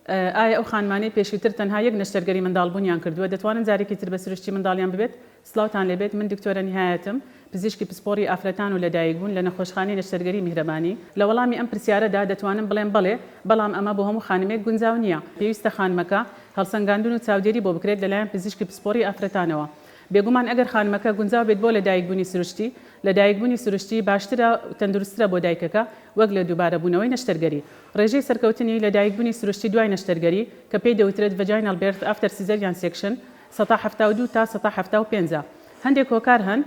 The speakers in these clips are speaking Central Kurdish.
ئایا ئەو خانمانەی پێشوتر تەنها یەک نەشتەرگەری منداڵبونیان کردوە دەتوانن جارێکی تر بە سروشتی منداڵیان ببێت؟ سڵاوتان لێبێت من دکتۆرە نیهایەتم پزیشکی پسپۆڕی ئافرەتان و لەدایک بون لە نەخۆشخانەی نەشتەرگەری میهرەبانی لە وەڵامی ئەم پرسیارەدا دەتوانم بڵێم بەڵێ بەڵام ئەمە بۆ هەمو خانمێک گونجاو نیە پێویستە خانمەکە هەڵسەنگاندون و چاودێری بۆ بکرێت لەلایەن پزیشکی پسپۆڕی ئافرەتانەوە بێگومان ئەگەر خانمەکە گونجاو بێت بۆ لەدایکبونی سروشتی لەدایکبونی سروشتی باشترە و تەندروستترە بۆ دایکەکە وەک لە دوبارەبونەوەی نەشتەرگەری. ڕێژەی سەرکەوتنی لەدایکبوونی سروشتی دوای نەشتەرگەری، کە پێی دەوترێت Vaginal Birth After Caesarian Section، سەتا حەفتا و دوو تا سەتا حەفتا و پێنج ە. هەندێک هۆکار هەن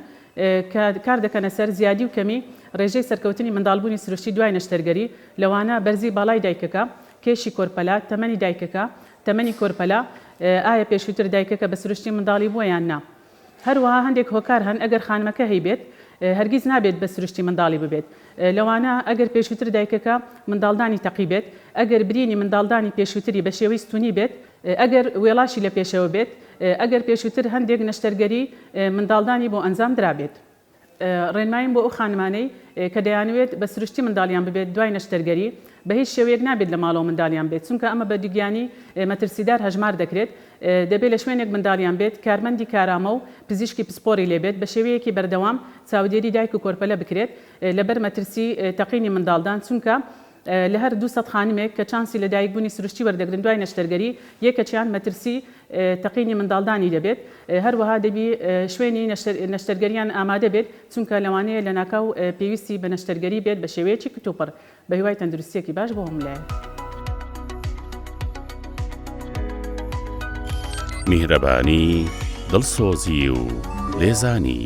کە کار دەکەنە سەر زیادی و کەمی ڕێژەی سەرکەوتنی منداڵبوونی سروشتی دوای نەشتەرگەری، لەوانە بەرزی باڵای دایکەکە، کێشی کۆرپەلە، تەمەنی دایکەکە، تەمەنی کۆرپەلە، ئایا پێشووتر دایکەکە بە سروشتی منداڵی بووە یان نا. هەروەها هەندێک هۆکار هەن ئەگەر خانمەکە هەیبێت هەرگیز نابێت بە سروشتی منداڵی ببێت لەوانە، ئەگەر پێشوتر دایکەکە منداڵدانی تەقی بێت، ئەگەر برینی منداڵدانی پێشوتری بە شێوەی ستونی بێت، ئەگەر وێڵاشی لە پێشەوە بێت، ئەگەر پێشوتر هەندێک نەشتەرگەری منداڵدانی بۆ ئەنجام درابێت. ڕێنماییم بۆ ئەو خانمانەی کە دەیانەوێت بە سروشتی منداڵیان ببێت دوای نەشتەرگەری، بە هیچ شێوەیەک نابێت لە ماڵەوە منداڵیان بێت، چونکە ئەمە بە دووگیانی مەترسیدار هەژمار دەکرێت، دەبێت لە شوێنێک منداڵیان بێت کارمەندی کارامە و پزیشکی پسپۆڕی لێ بێت، بە شێوەیەکی بەردەوام چاودێری دایک و کۆرپەلە بکرێت لەبەر مەترسی تەقینی منداڵدان، چونکە لە هەر دوو سەد خانمێک کە چانسی لەدایکبوونی سروشتی وەردەگرن دوای نەشتەرگەری، یەکێکیان مەترسی تەقینی منداڵدانی دەبێت، هەروەها دەبی شوێنی نەشتەرگەرییان ئامادە بێت، چونکە لەوانەیە لەناکاو پێویستی بە نەشتەرگەری بێت بە شێوەیەکی کتوپڕ. بەهیوای تەندروستییەکی باش بۆ هەموو لایەک. میهرەبانی، دڵسۆزی و لێزانی.